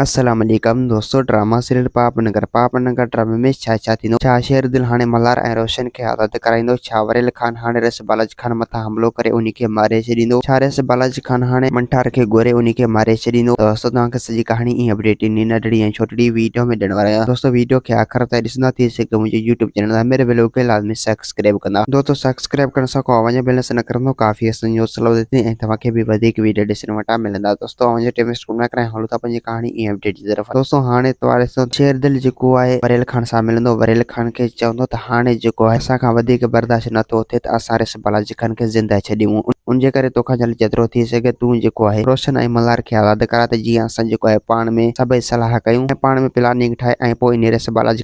السلام عليڪم دوستو ڊراما سيريل پاپ نگر پاپ نگر ڊرامي ۾ ڇا ڇا ٿيندو ڇا شير دل هاڻي ملهار ۽ روشن کي آزاد ڪرائيندو ڇا وريل خان هاڻي رئيس بالاجي خان مٿان حملو ڪري انهي کي ماري ڇڏيندو ڇا رئيس بالاجي خان هاڻي منٺار کي گهوري انهي کي ماري ڇڏيندو ته دوستو توهان کي سڄي ڪهاڻي ائين اپڊيٽ انهي ننڍڙي ۽ ڇوٽڙي ويڊيو ۾ ڏيڻ وارو آهيان دوستو ويڊيو کي آخر تائين ڏسندا ٿي سگهيو منهنجي يوٽيوب چينل ۾ ميري ويلو کي لازمي سيڪس سبسڪرائب ڪندا. دوستو سبسڪرائب ڪرڻ سان ڪو اوهان جو بيلنس نه ڪرندو ڪافي اسان جو حوصلو وڌي ٿي ۽ توهان کي به وڌيڪ ويڊيو ڏسڻ وٽان ملندا دوستو اوهان جو ٽيم ويسٽ ڪونه ٿا ڪرايون هلون ٿا پنهنجي ڪهاڻي ۽ اپڊيٽ جي طرف دوستو هاڻي اتوار اسان شير دل جيڪو آهي وريل خان سان ملندو وريل خان کي چوندو ته هاڻي جيڪو آهي اسان کان وڌيڪ برداشت نه ٿو ٿئي ته اسان ريس بالاجي خان کي زنده ڇڏيون ان جي ڪري توکان جلد جيترو ٿي سگهي تون جيڪو آهي روشن ۽ ملهار کي آزاد ڪرا ته جيئن اسان جيڪو آهي پاڻ ۾ سڀئي صلاح ڪيون ۽ پاڻ ۾ پلاننگ ٺاهي ۽ پوء انهي ريس بالاجي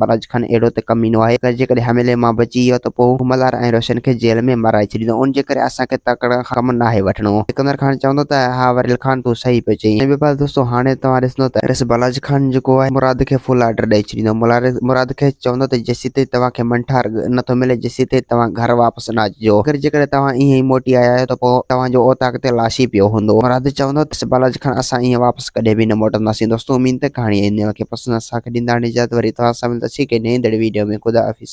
براج خان اهڙو ته ڪمينو آهي ته جيڪڏهن حملي مان بچي ويو ته پوء ملهار ۽ روشن کي جيل ۾ مرائي ڇڏيندو. ان جي ڪري اسان کي تڪڙن کان ڪم ناهي وٺڻو. سڪندر خان چوندو ته ها وريل خان تون صحيح پيو چئين. ۽ ٻي پاسي دوستو هاڻي توهان ڏسندو ته. رس براج خان جيڪو آهي مراد کي فل آرڊر ڏئي ڇڏيندو. مراد کي چوندو ته جيسيتائين توهان کي منٺار نه ٿو ملي جيسيتائين توهان گهر واپس نه اچجو. اگر جيڪڏهن توهان ائين ئي موٽي آيا آهيو ته پوء توهان جو اوطاق تي لاش ئي پيو هوندو. مراد چوندو ته رس براج خان اسان ائين واپس. بس ڪڏهن به نه موٽنداسين دوستو اميد ته ڪهاڻي ۽ نياڻ کي پسند اسان کي ڏيندا هاڻي اجازت وري توهان سان ملنداسين هڪ نئين دڙي ويڊيو ۾ خدا حافظ.